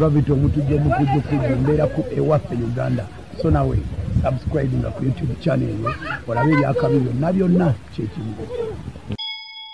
gravity omutujja omukujjukujju mbeera ku ewaffe uganda so nawe subscribe nga ku youtube channel eyo olabe ebyakabi byonna byonna kyekimu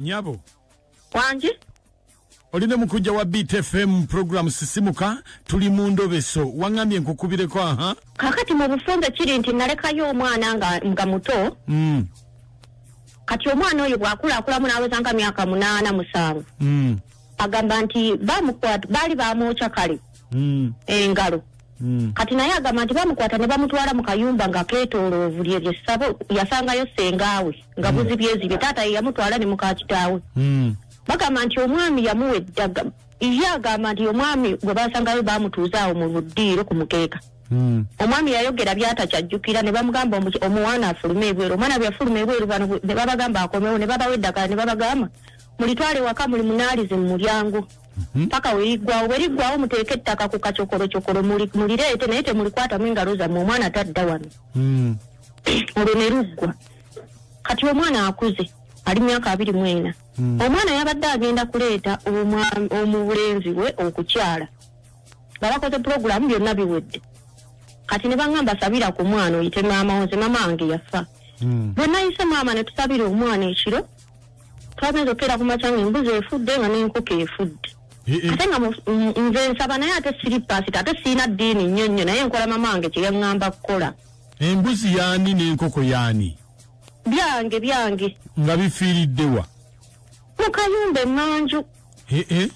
nyabo wangi oli ne mukujja wa btfm program sisimuka tuli mu ndobeso waŋambye nkukubireko aha kakati mu bufunze kiri nti nalekayo omwana nga, nga muto mm. kati omwana oyo bwakulakulamu naweza nga myaka munaana musanvu mm. agamba nti bamukwata baali bamwokya kale mm. engalo mm. kati naye agamba nti bamukwata ne bamutwala mu kayumba nga ketoloovu lye lyessabo yasangayo sengaawe nga mm. buzibyezibye taata ye yamutwala ne mukakitaawe mm. bagamba nti omwami yamuwa eddaga ye agamba nti omwami gwe basangayo bamutuuza awo mu buddiiro ku mukeeka hmm. omwami yayogera byatakyajjukira ne bamugamba omuwana afulume ebweru omwana bwe yafuluma ebweru bano ne babagamba akomewo ne babawa eddagala ne babagamba mulitwale waka muli munaalize mu mulyango mhm. paka weriggwawo bweriggwawo muteeke ettaka ku kacokolocokolo mulireete naye temulikwatamu engalo zammwe omwana tadda wano hmm. olwo ne luggwa kati omwana akuze ali myaka abiri mu ena hmm. omwana yabadde agenda kuleeta omubulenzi we okukyala nga bakoze pulogulaamu byonna biwedde kati ne baŋamba sabira ku mwana oyite maama wo nze maama wange yafa hmm. bwe nayise maama ne tusabira omwana ekiro twagenze okukeera ku makya nga embuzi efudde nga n'enkoko efudde eh, eh. ate nga nze nsaba naye ate siri paasita ate sirina ddiini nnyo nnyo naye nkola mama wange kye yaŋŋamba kukola embuzi yaani n'enkoko yaani byange byange nga bifiiriddewa mu kayumba emanju eh, eh.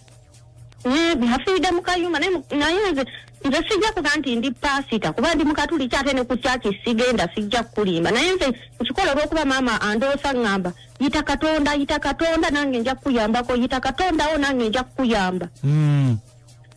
nafiiride mu kayumba naye nze nze sijja kuba nti ndi paasita kuba ndi mukatuliki ate ne ku kyaki sigenda sijja kukulimba naye nze nkikola olwokuba maama andoosa ŋŋamba yita katonda yita katonda nange nja kukuyambako yita katondawo nange nja kukuyamba hmm.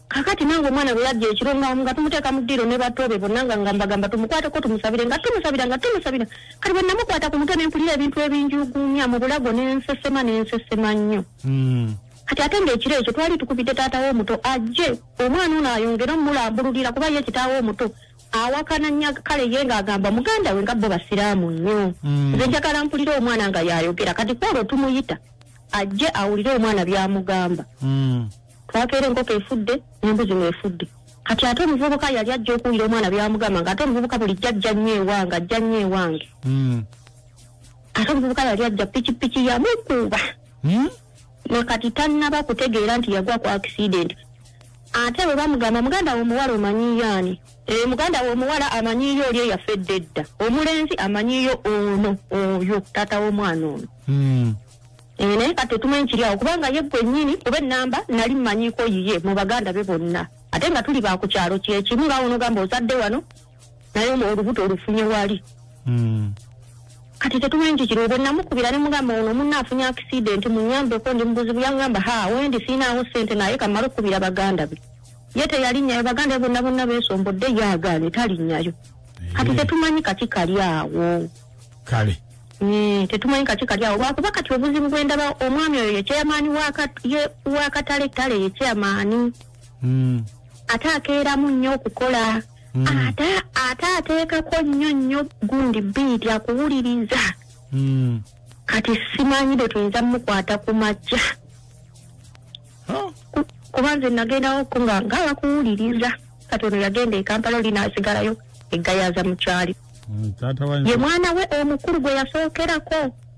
kakati nange omwana bwe yajja ekiro nga tumuteeka mu ddiiro ne batoobe bonna nga nga mbagamba tumukwateko tumusabire nga tumusabira nga tumusabira kati bwe namukwata ku mutwe ne mpulira ebintu ebinjuguumya mu bulago ne nsesema ne nsesema nnyo hmm. kati ate ngaekiro ekyo twali tukubidde taata wo omuto ajje omwana ono ayongere omulambululira kuba ye kitaawo omuto awakana nya kale ye ngaagamba muganda we nga bo basiraamu nnyo hmm. nze njagala mpulire omwana nga yayogera kati kwolwo tumuyita ajje awulire omwana byamugamba hmm. twakeera enkoko efudde nembuzi mwefudde kati ate omuvubuka yali ajja okuwulira omwana byamugamba nga ate omuvubuka buli jjajja nnyo ewange ajja nnyo ewange ate omuvubuka yali ajja pikipiki yamukuba hmm? nekati tannaba kutegeera nti yagwa ku accident ate bwe bamugamba muganda womuwala omanyiyo ani eh, muganda womuwala amanyiyo oli eyaffe edda edda omulenzi amanyiyo ono oyo taata womwana ono hmm. eh, naye kati otumanyi kiri awo kubanga ye gwennyini kuba enamba nali mumanyiko yiye mu baganda be bonna ate nga tuli bakukyalo kyekimu nga wonogamba ozadde wano naye olubuto olufunye wali hmm. kati tetumanyi nti kiriwo bwenamukubira ne mugamba ono munna afunye akisidenti munyambeko ndi mubuzibu yangamba ha wendi siinaawo sente naye kamala okukubira baganda be ye teyalinnyayo baganda be bonna bonna beesombodde ye agaane talinnyayo kati eh. tetumanyi kaki kali awo kale eh, tetumanyi kaki kali awo lwakuba kati obuzibu bwendaba omwami oyo yekyeyamaani wakatale tale yekyeyamaani hmm. ate akeeramu nnyo okukola Mm. ate ate ateekako nnyo nnyo gundi biiti akuwuliriza Mm. kati simanyi bwe tuyinza mukwata ku makya Oh. Ku- kuba nze nagendawo ko nga nga bakuwuliriza kati ono yagenda e kampala oli n'asigalayo egayaza mukyali Mm, taata wa ye mwana we omukulu gwe yasookerako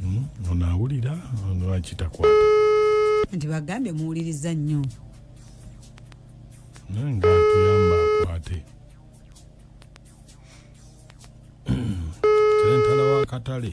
hmm, onaawulira lwaki takwata nti bagambye muwuliriza nnyo naye nga tuyamba akwate sentala wa katale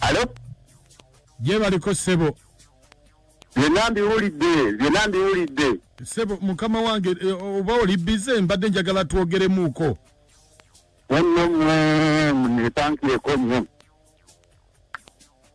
alo gye baliko ssebo byonna mbiwulidde byonna mbiwulidde ssebo mukama wange eh, oba oli bize mbadde njagala twogeremuuko nonno mwe munepankireko nnyo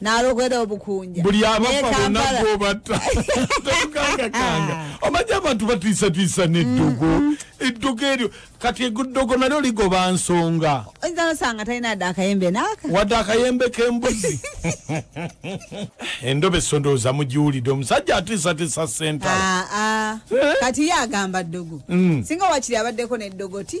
nalogera obukunja buli abafa bona gobata tokangakanga omanyi abantu batiisatiisa neddogo mm-hmm. eddogo eryo kati eddogo nalyo ligoba nsonga oyinza nosanga talina dde akayembe naaka wadde akayembe kembuzi endobe sondooza mugiwulidde omusajja atiisatiisa sentala ah, ah. Eh? kati ye agamba ddogo mm. singa wakiri abaddeko neddogo ti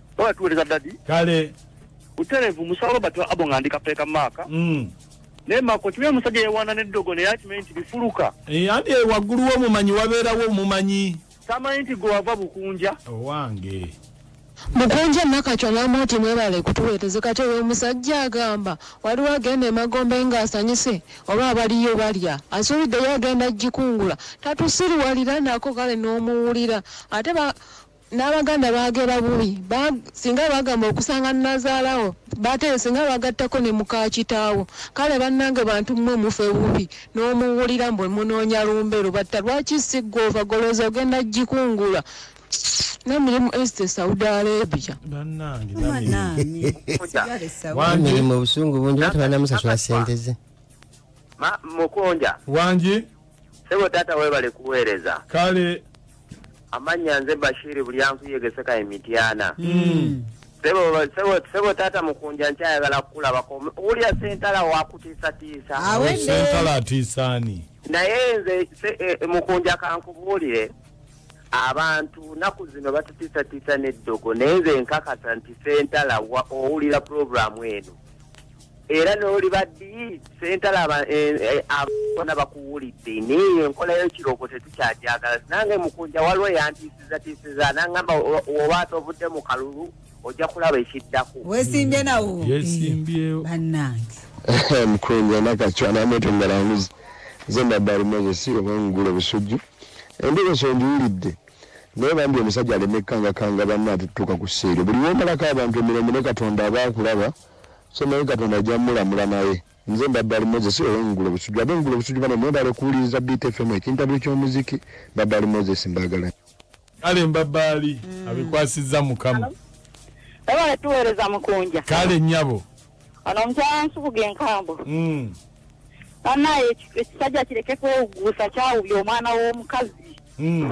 Oya tuweleza daddy. Kale. Utelevu musalo batu abo ngandika peka maka. Mm. Ne mako tuwe musaje yewana ne dogo ne yati menti bifuluka. E eh, andi wagulu wo mumanyi wabera wo mumanyi. Sama inti go wava bukunja. Owange. Oh, mukunja nakacwa namoti mwebale kutuweteze kati oyo omusajja agamba waliwo agenda emagombe nga asanyise oba abaliyo balya asuubiddeyo agenda jikungula tatusiriwalira nako kale n'omuwulira ate n'abaganda baagera bubi singa bagamba okusanga nazaalawo bate singa bagattako ne muka kitaawo kale bannange bantu mmwe mufe bubi n'omuwulira mbwe munoonya lumbe lubatta lwaki sigga ovagoloza ogenda gikungula nemirimu este saudi arabia mirimu obusungu bungi batubanamusasula sente ze mukunja wangi sebo tata webale kuweereza kale amannya nze bashiri buli ankuyegeseka emityana mm. sebo taata mukunja nkyayagala kukulabako wulya sentala wakutiisatiisa sentala atiisaani naye nze e, e, mukunja kankubuulire abantu naku zino batutiisatiisa n'eddogo naye nze nkakasa nti sentala owulira pulogulaamu eno era noliba ddi sentalaba eh, eh, abona bakuwulidde naye enkola yekiroko tetukyagyagala nange mukunja waliwo yantiisizatiisiza nangamba oba ate ovudde mu kalulu ojja kulaba ekiddako wesimbye nawo yesimbyewo bannange mukunja nakacwanamwetongalamuzi nze nabbali moses obangula obusujju endogoso njiwulidde naye bambi omusajja alemekangakanga banna atutuuka ku seero buli womalako abantu emirembe ne katonda aba akulaba so naye katonda ajja mulamula naye nze mbadde ali moses owengulo busujju abe ngulo busujju bane mwebale kuwuliriza btfm ekintabuli ky'omuziki mbadde ali moses mbagala kale mbabaali mm. abikwasizza mukama webale tuweereza mukunja kale nyabo ono omukyala nsubuga enkambo mm. banaye ekisajja kireke kwewuguusa kyawubya omwana w'omukazi mm.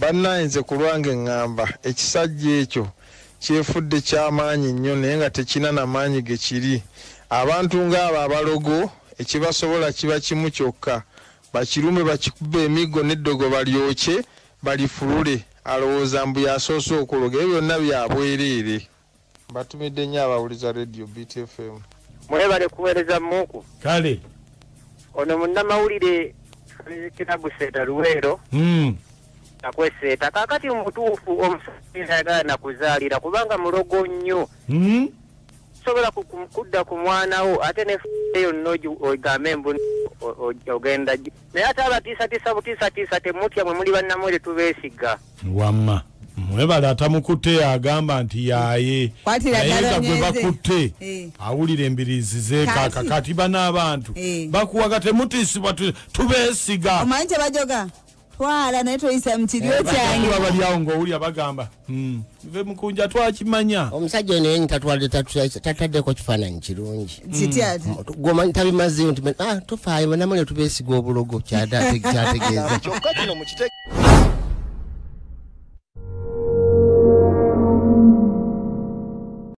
Banaye nze kulwange ngamba ekisajja ekyo kyefudde kyamaanyi nnyo naye nga tekina namaanyi gekiri abantu nga abo abalogo ekibasobola kiba kimu kyokka bakirume bakikube emiggo neddogo balyokye balifulule alowooza mbu yasoose okuloga ebyo byonna byabwereere. mbatumidde nnyo abawuliza radio btfm mwebale kuweereza muuku kale ono munnamawulire kiraguseeta luweero hmm. akweseeta kakati mutuufu omusajja ayagala nakuzaalira kubanga mulogo nnyo hmm? sobola kudda ku mwana wo ate neeyo nogambe mbu ogenda naye ate abatiisatiisa butiisatiisa temutya mwe muli bannamwe tetubeesigga wamma mwebale atamukutte agamba nti yaye nayenga gwe bakutte eh. awulira embirizi zekaka kati bana abantu eh. bakuwaga temutiisibwa tubeesiga omanyi kyebajoga twala naye toyisa mukiryo eh, kyange babalyawo ngaowulira bagamba hmm. nve mukunja twakimanya omusajja ono yenyi tatwalde tataddeko kifaananyi kirungi gwomanyi tabimazeyo nti ah, tofaayo banamule tubesiga obulogo kyategeeza